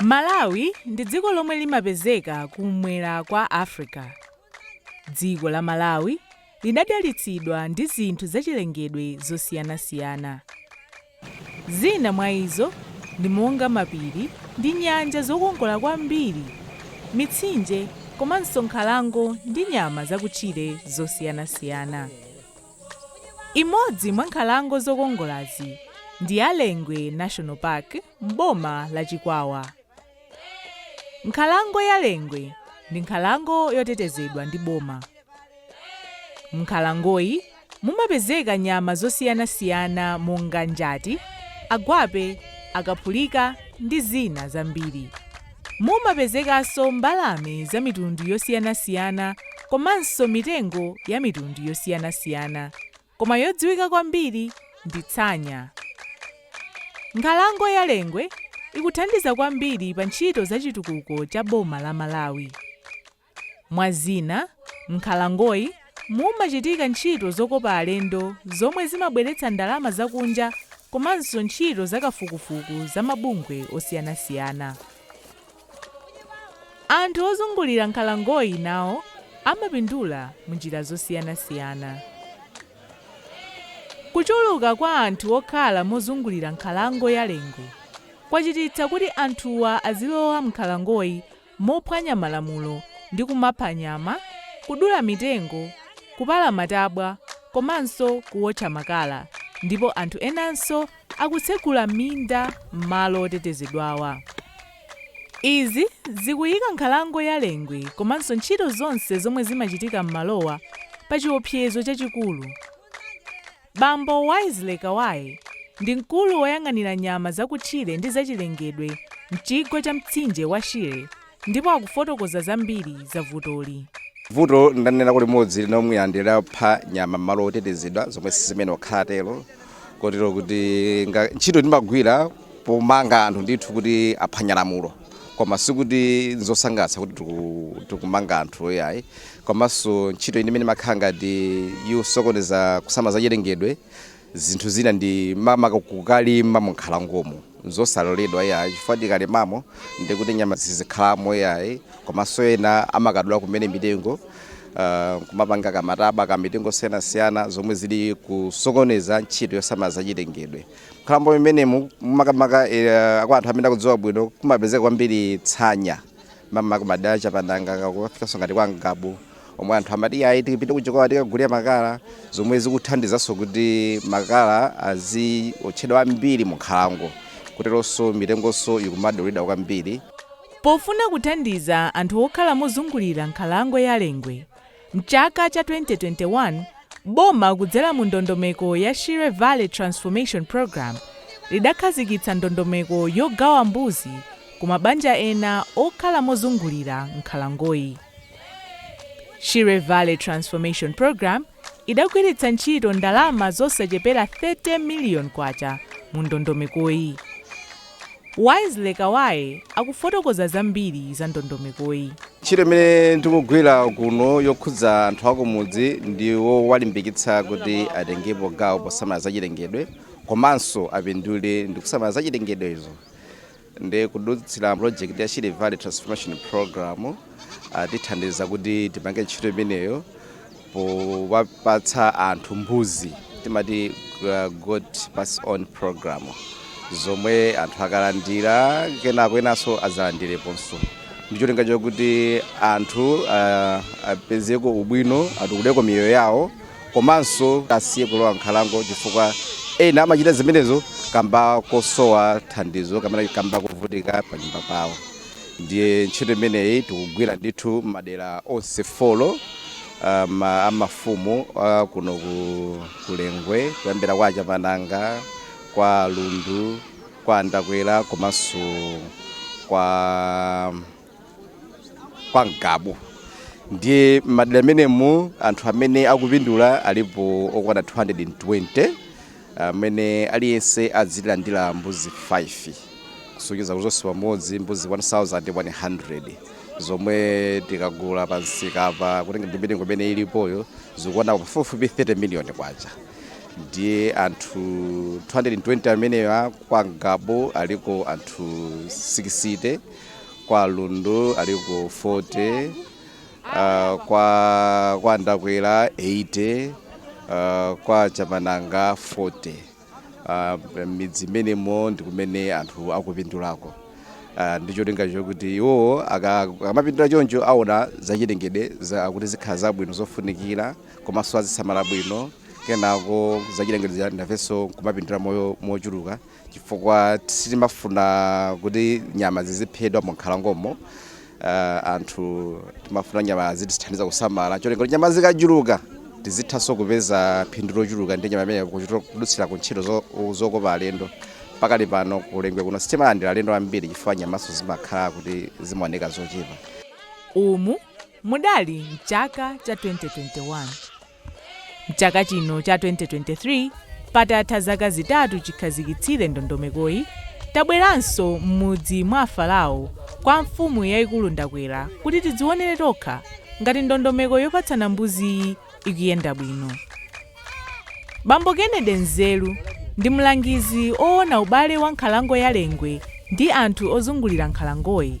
Malawi ndi dziko lomwe limapezeka ku m'mwera kwa Africa. Dziko la Malawi linadalitsidwa ndi zinthu zachilengedwe zosiyanasiyana. Zina mwa izo ndi monga mapiri ndi nyanja zokongola kwambiri, mitsinje komanso nkhalango ndi nyama zakutchire zosiyanasiyana. Imodzi mwa nkhalango zokongolazi ndi ya Lengwe National Park m'boma la Chikwawa. Nkhalango ya Lengwe ndi nkhalango yotetezedwa ndi boma. M'nkhalangoyi mumapezeka nyama zosiyanasiyana monga njati, agwape, akaphulika ndi zina zambiri. Mumapezekanso mbalame za mitundu yosiyanasiyana komanso mitengo ya mitundu yosiyanasiyana. koma yodziwika kwambiri ndi tsanya. Nkhalango ya Lengwe ikuthandiza kwambiri pa ntchito za chitukuko cha boma la Malawi. Mwa zina, m'nkhalangoyi mumachitika ntchito zokopa alendo zomwe zimabweretsa ndalama zakunja komanso ntchito za kafukufuku za mabungwe osiyanasiyana. Anthu ozungulira nkhalangoyi nawo amapindula mu njira zosiyanasiyana. Kuchuluka kwa anthu okhala mozungulira nkhalango ya Lengwe kwachititsa kuti anthuwa azilowa m'nkhalangoyi mophwanya malamulo ndi kumapha nyama, kudula mitengo, kupala matabwa komanso kuwotcha makala ndipo anthu enanso akutsegula minda m'malo otetezedwawa. Izi zikuyika nkhalango ya Lengwe komanso ntchito zonse zomwe zimachitika m'malowa pa chiopsezo chachikulu. Bambo Wesley Kawaye ndi mkulu woyang'anira nyama zakutchire ndi zachilengedwe m'chigwa cha mtsinje wa Shire, ndipo akufotokoza zambiri za vutoli. Vuto ndanena kuti limodzi ndi lomwe anthu amapha nyama m'malo otetezedwa zomwe siziyenera kukhala tero kotero kuti nga- ntchito timagwira pomanga anthu ndithu kuti aphwanya lamulo koma sikuti nzosangalatsa kuti tiku- tikumanga anthu ayi ayi komanso ntchito imene imakhala ngati yosokoneza kusamala za chilengedwe zinthu zina ndi ma- maka kukalima munkhalangomo nzosaloledwa ayi chifukwa tikalimamo ndi kuti nyama sizikhalamo ayi komanso ena amakadula kumene mitengo ah, kumapanga kamataba ka mitengo yosiyanasiyana zomwe zili kusokoneza ntchito yosamala zachilengedwe m'nkhalango imenemu makamaka eh, kwa anthu amene akudziwa bwino kumapezeka kwambiri tsanya mamaka madera a Chapananga kufikanso ngati kwa Ngabu omwe anthu amati ayi tipite ku Chikwawa tikagulire makala zomwe zikuthandizanso kuti makala aziotchedwa ambiri mu nkhalango kuteronso mitengonso ikumadulidwa kwambiri Pofuna kuthandiza anthu okhala mozungulira nkhalango ya Lengwe, m'chaka cha 2021 boma kudzera mu ndondomeko ya Shire Valley Transformation Programme lidakhazikitsa ndondomeko yogawa mbuzi ku mabanja ena okhala mozungulira nkhalangoyi. Shire Valley Transformation Programme idagwiritsa ntchito ndalama zosachepera K30 million mu ndondomekoyi. Wisely Kawaye akufotokoza zambiri za ndondomekoyi. Ntchito imene tikugwira kuno yokhudza anthu akumudzi ndi yowalimbikitsa kuti atengepo gawo posamala zachilengedwe komanso apindule ndi kusamala zachilengedwezo. ndi kudutsira project ya Shire Valley Transformation Program atithandiza kuti tipange ntchito imeneyo powapatsa anthu mbuzi timati uh, goat pass on program zomwe anthu akalandira kenako enanso azalandireponso ndicholinga chakuti anthu uh, apezeko ubwino atukuleko miyoyo yawo Komanso asiye kulowa m'nkhalango chifukwa ena amachita zimenezo kamba kosowa thandizo kapena kamba kovutika panyumba pawo. Ndiye ntchito imeneyi tikugwira ndithu m'madera onse folo a mafumu a kuno ku Lengwe, kuyambira kwa Achapananga, kwa Lundu, kwa Andakwera komanso kwa. kwa Ngabu ndiye m'madera amenemu anthu amene akupindula alipo okwana 220 amene aliyense azilandira mbuzi 5 kusonyeza kuti zonse pamodzi mbuzi 1100 zomwe tikagula pa msika pa kutenga ndi mitengo imene ilipoyo zikukwana pafupifupi 30 miliyoni kwacha ndiye anthu 220 amenewa kwa Ngabu aliko anthu 60 kwa Lundu aliko 40 uh, kwa, kwa Ndakwera 80 uh, kwa Chapananga 40 uh, midzi imenemo ndi kumene anthu akupindulako uh, ndi cholinga chokuti iwo aka- akamapindula choncho aona zachilengedwe za- kuti zikhala zabwino zofunikira komanso azisamala bwino kenako zachilengedwe nafenso kumapindula mochuluka chifukwa sitimafuna kuti nyama ziziphedwa mu nkhalangomo. Uh, anthu timafuna nyama azitithandiza kusamala cholinga kuti nyama zikachuluka tizithanso kupeza phindu lochuluka ndi nyama imene kudutsira ku ntchito zo- zokopa alendo pakali pano ku Lengwe kuno sitimalandira alendo ambiri chifukwa nyamanso zimakhala kuti zimaoneka zochepa umu mudali mchaka cha 2021 M'chaka chino cha 2023, patatha zaka zitatu chikhazikitsire ndondomekoyi, tabweranso m'mudzi mwa Farao kwa mfumu yaikulu Ndakwera kuti tidzionere tokha ngati ndondomeko yopatsana mbuziyi ikuyenda bwino. Bambo Kennedy Nzeru ndi mlangizi oona ubale wa nkhalango ya Lengwe ndi anthu ozungulira nkhalangoyi.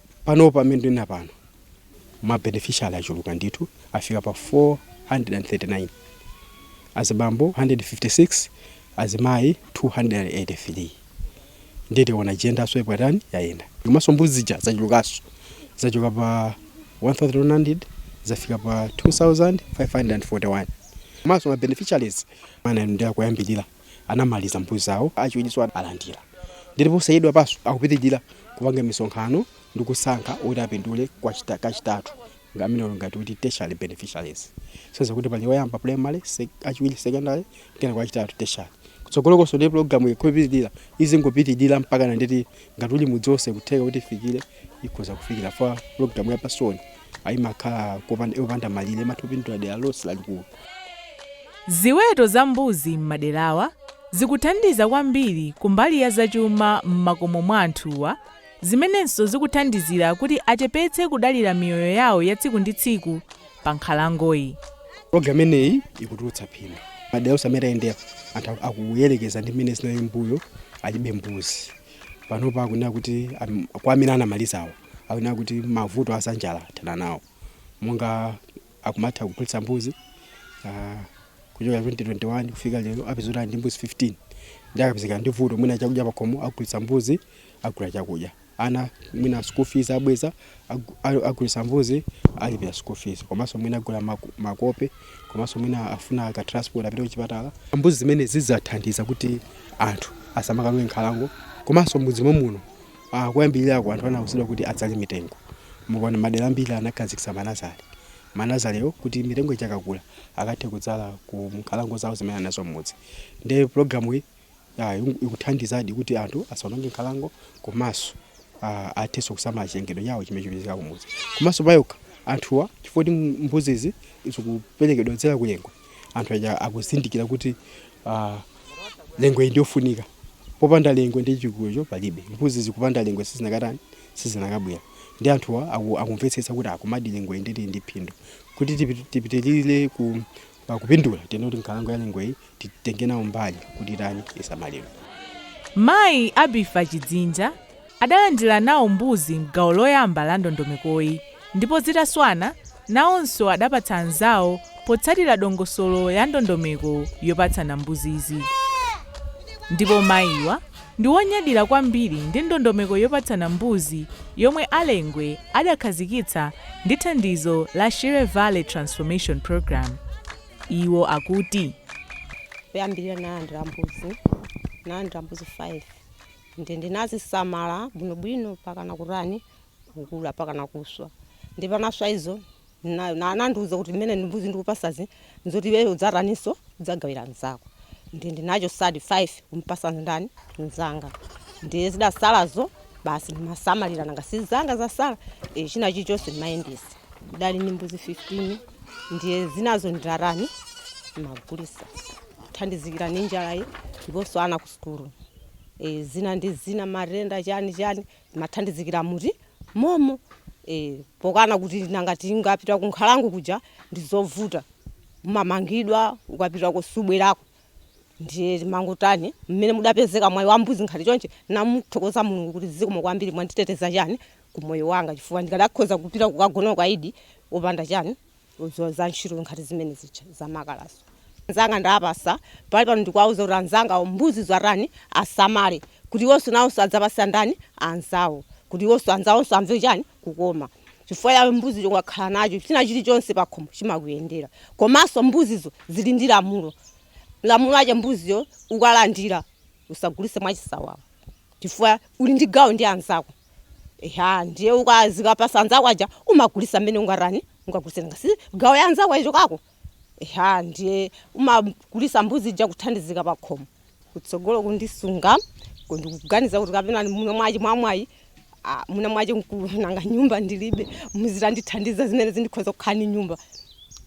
Panopa pamene ndinena pano ma beneficiary achuluka ndithu afika pa 439, azibambo 156, azimayi 283 nditi tiona gendernso yatani yayenda. Komanso mbuzi zija zachulukanso zachoka pa 1100 zafika pa 2541 komanso ma beneficiaries amene ndi akuyambirira. anamaliza mbuzi zawo achiwirinso alandira ndipo posachedwapanso akupitirira kupanga misonkhano ndi kusankha oti apindule kwa chita- kachitatu nga- amene ali ngati kuti tertiary beneficiaries kusonyeza kuti pali oyamba primary sec- achiwiri secondary kenako achitatu tertiary kutsogolokonso ndi programu ikupitirira izingopitirira mpaka nanditi ngati uli mudzi wonse kutheka kuti ifikire ikhoza kufikira fa pulogalamu ya pass-on imakhala kopanda- yopanda malire imatha kupindula dera lonse lalikulu Ziweto za mbuzi m'maderawa zikuthandiza kwambiri kumbali ya zachuma m'makomo mwa anthuwa zimenenso zikuthandizira kuti achepetse kudalira miyoyo yawo ya tsiku ndi tsiku pa nkhalangoyi. pulogalamu imeneyi ikutulutsa phindu madera onse amene tayendera anthu akuyerekeza ndi mmene zinalili m'mbuyo alibe mbuzi panopa akunena kuti am- kwa amene anamalizawo akunena kuti mavuto azanjala athana nawo monga akumatha kugulitsa mbuzi ah, kuchoka 2021 kufika lero apezeka ndi mbuzi 15 nde akapezeka ndi vuto mwina chakudya pakhomo agulitsa mbuzi agula chakudya ana mwina school fees abweza agulitsa mbuzi alipira school fees komanso mwina agula makope komanso mwina afuna ka transport apite kuchipatala mbuzi zimenezi zathandiza kuti anthu asamakalowe nkhalango komanso m'mudzi momuno ah, kuyambirirako anthu anauzidwa kuti adzale mitengo mukaona madera ambiri anakhazikitsa manazale manazalewo kuti mitengo ichakakula akathe kudzala ku nkhalango zawo zimene anazo mmudzi nde programu iyi ah, ikuthandizadi kuti anthu asaononge nkhalango komanso ah, athenso kusamala chilengedwe chawo chimene chipezeka kumudzi komanso payokha anthuwa chifukwa kuti mbuzizi zikuperekedwa dzera ku Lengwe anthu aja akuzindikira kuti ah, Lengwe ndiyofunika popanda Lengwe ndi chikulecho palibe mbuzizi kupanda Lengwe sizinakatani sizinakabwera ndi anthuwa aku- akumvetsetsa kuti komadi Lengwe ili ndi phindu kuti tipi- tipitirire ku pakupindula tiyeni kuti nkhalango ya Lengweyi titenge nawo mbali kuti itani isamalidwe. Mayi Abifa Chidzinja adalandira nawo mbuzi m'gawo loyamba la ndondomekoyi ndipo zitaswana nawonso adapatsa anzawo potsatira dongosolo ya ndondomeko yopatsana mbuzizi ndipo mayiwa ndi wonyadira kwambiri ndi ndondomeko yopatsana mbuzi yomwe a Lengwe adakhazikitsa ndi thandizo la Shire Valley Transformation Programme. Iwo akuti. Poyambirira ndinalandira mbuzi ndinalandira mbuzi 5 ndi ndinazisamala bwinobwino mpakana kutani kukula mpakana kuswa ndi pa naswa izo nayo na anandiuza kuti mmene ndi mbuzi ndikupasazi nzoti iweyo udzataninso udzagawira mzako ndi ndinachotsadi 5 kumpasa ndani mzanga ndiye zidasalazo basi ndimasamalira nanga si zanga zasala e, china chilichonse ndimayendesa ndidali ndi mbuzi 15 ndiye zinazo ndimatani ndimagulisa thandizikira ndi njalayi ndiponso ana ku sukulu e, zina ndi zina matenda chani chani Imathandizikira mu timomo ee pokana kuti nanga tingapita kunkhalango kuja ndizovuta umamangidwa ukapitako subwerako ndiye timangotani mmene mudapezeka mwayi wa mbuzi nkhati chonchi namuthokoza Mulungu kuti zikomo kwambiri mwanditeteza chani ku moyo wanga chifukwa ndikadakhoza kupita kukagona ukaidi opanda chani udziwa za ntchito nkhati zimene zija za makalazo anzanga ndawapasa pali pano ndikuwauza kuti anzangawo mbuzizo atani asamale kuti iwonso nawonso adzapase andani anzawo kuti iwonso anzawonso amve chani kukoma chifukwa chiweto mbuzicho ukakhala nacho china chilichonse pakhomo chimakuyendera komanso mbuzizo zili ndi lamulo lamulo ache mbuziyo ukalandira usagulise mwachisawawa chifukwa uli ndi gawo ndi anzako Eya, ndiye ukazikapasa anzako aja umagulisa mmene ungatani ungagulise nanga si gawo ya anzako yachokako, eya ndiye umagulisa mbuzi ija kuthandizika pa khomo kutsogolo kundisunga ku- ndikuganiza kuti kapena mu nomwachi mwamwayi ah, muno mwachi mkulu nanga nyumba ndilibe muzitandithandiza zimene zindikhoza kukhala ndi nyumba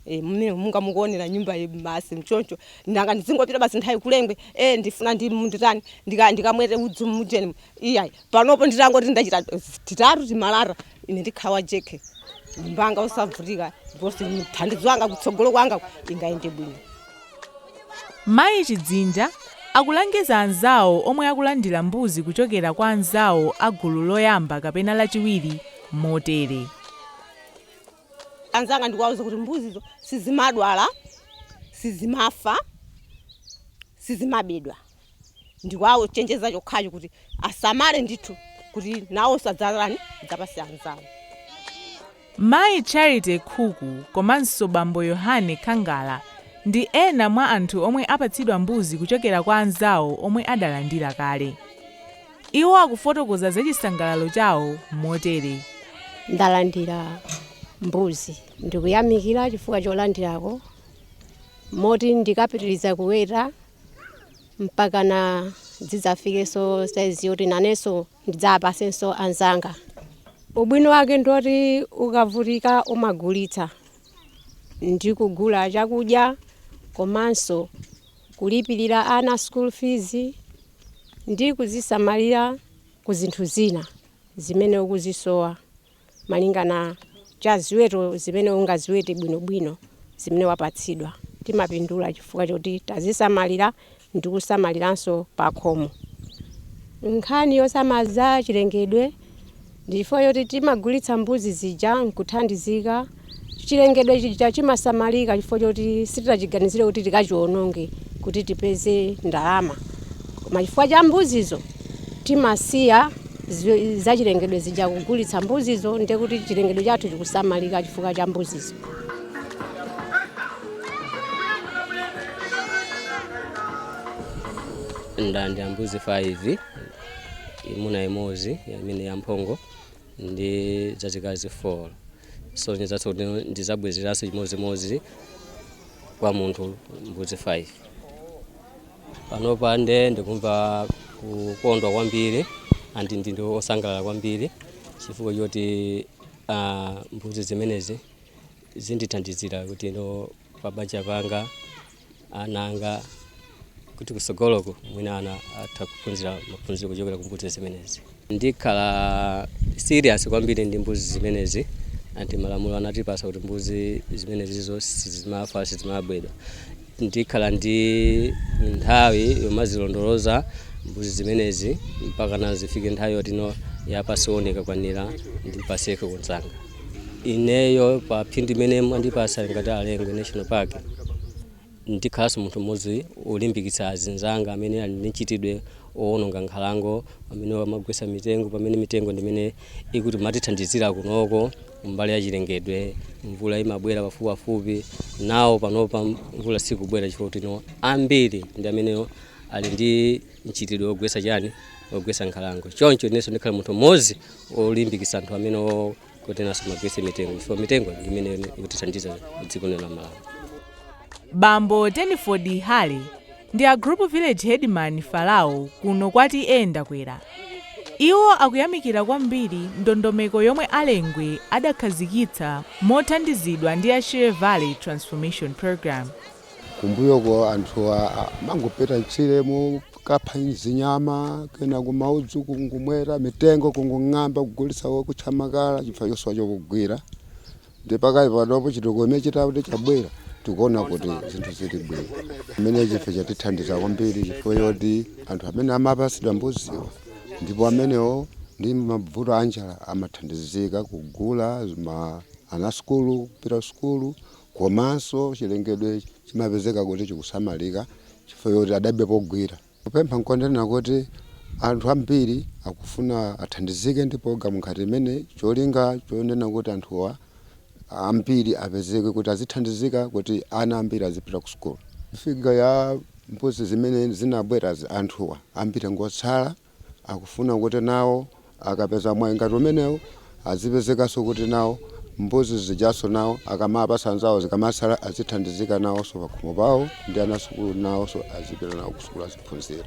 Eh, mmene mungamukuonera nyumba ye basi mchoncho nanga ndizingopita basi nthawi kulengwe eh ndifuna ndimu nditani ndika ndikamwete udzu mujeni iyayi Panopo nditangoti ndapeza titatu timalata, ine ndikhala wa jekhe, nyumba yanga yosavutika ndiponso mthandizo wanga kutsogolo kwanga ingayende bwino. Mayi Chidzinja akulangiza anzawo omwe akulandira mbuzi kuchokera kwa anzawo a gulu loyamba kapena lachiwiri motere. Anzanga ndikuwauza kuti mbuzizo sizimadwala, sizimafa, sizimabedwa. ndikuwachenjeza chokhacho kuti asamale ndithu kuti nawonso adzatani adzapase anzawo. Mayi Charity Khuku komanso bambo Yohane Khangala ndi ena mwa anthu omwe apatsidwa mbuzi kuchokera kwa anzawo omwe adalandira kale. Iwo akufotokoza za chisangalalo chawo motere. Ndalandira mbuzi. Ndikuyamikira chifukwa cholandirako moti ndikapitiriza kuweta mpakana zidzafikenso saizi yoti nanenso ndidzapasenso anzanga ubwino wake ndi woti ukavutika umagulitsa ndi kugula chakudya komanso kulipirira ana school fees ndi kuzisamalira ku zinthu zina zimene ukuzisowa malinga na cha ziweto zimene ungaziwete bwino-bwino zimene wapatsidwa. Timapindula chifukwa choti tazisamalira ndi kusamaliranso pakhomo. Nkhani yosamala za chilengedwe ndi chifukwa choti timagulitsa mbuzi zija n'kuthandizika. chilengedwe chija chimasamalika chifukwa choti sitinachiganizire kuti tikachiwononge kuti tipeze ndalama koma chifukwa cha mbuzizo timasiya zi- zachilengedwe zija kugulitsa mbuzizo ndiye kuti chilengedwe chathu chikusamalika chifukwa cha mbuzizo ndalandira mbuzi 5 imuna imodzi imene yamphongo ndi zazikazi 4 zosonyezanso kuti ndizabwezeranso chimodzimodzi kwa munthu mbuzi 5 panopa ndiye ndikumva kukondwa kwambiri and ndine osangalala kwambiri chifukwa choti ah, mbuzi zimenezi zindithandizira kutino pabanja panga ana anga kuti kusogoloko mwina ana atha kuphunzira maphunziro kuchokera ku mbuzi zimenezi ndikhala serious kwambiri ndi mbuzi zimenezi ati malamulo anatipasa kuti mbuzi zimenezizo sizimafa sizimabedwa ndikhala ndi nthawi yomazilondoloza mbuzi zimenezi mpaka nazifike nthawi yotino ya pass on ikakwanira ndipaseko kunzanga ineyo pa phindu imene mwandipasa ngati a Lengwe national park ndikhalanso munthu mmodzi olimbikitsa azinzanga amene ali ndi mchitidwe owononga nkhalango amene amagwetsa mitengo pamene mitengo ndimene imatithandizira kunoko mbali ya chilengedwe mvula imabwera pafupipafupi nawo panopa mvula sikubwera chifukwa kutino ambiri ndi amene ali ndi mchitidwe wogwetsa chani wogwetsa nkhalango choncho inenso ndikhala munthu mmodzi olimbikitsa anthu amene o- kuti asamagwetse mitengo chifukwa mitengo ndi imene ikutithandiza dziko lino la malawi bambo teniford hale ndi a group village headman farao kuno kwa T/A Ndakwera iwo akuyamikira kwambiri ndondomeko yomwe a Lengwe adakhazikitsa mothandizidwa ndi a shire valley transformation programme Kumbuyoku anthu amangopita m'tchiremu kukapha zinyama, kena kumaudzu kungomweta, mitengo kungong'amba kugulitsa kuotcha makala chifukwa chosowa chokugwira. Nde pakali panopo chitukuko chimene chitati chabwerachi tikuona kuti zinthu zili bwino. Chimenechi ife chatithandiza kwambiri chifukwa choti anthu amene amapatsidwa mbuziwa ndipo amenewo ndi mavuto a njala amathandizika kugula ana a sukulu kupita kusukulu, Komanso chilengedwe chimapezeka kuti chikusamalika chifukwa choti adapeza pogwira. Kupempha n'konena kuti anthu ambiri akufuna athandizike ndi pulogalamu ngati imeneyi. Cholinga chonena kuti anthuwa ambiri apezeke kuti azithandizika kuti ana ambiri azipita ku sukulu. Figa ya mbuzi zimene zinabwerazi, anthuwa ambiri ngotsala. Akufuna kuti nawo akapeza mwayi ngati umenewo azipezekanso kuti nawo mbuzi zijanso nawo akamawapatsa anzawo zikamatsala azithandizika nawonso pakhomo pawo ndi ana sukulu nawonso azipita nawo kusukulu aziphunzira.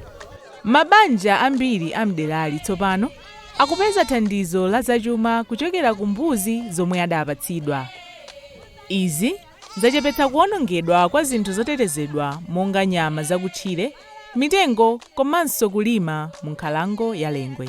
Mabanja ambiri a m'derali tsopano akupeza thandizo la zachuma kuchokera ku mbuzi zomwe adapatsidwa. Izi. zachepetsa kuwonongedwa kwa zinthu zotetezedwa monga nyama zakutchire, mitengo komanso kulima mu nkhalango ya Lengwe.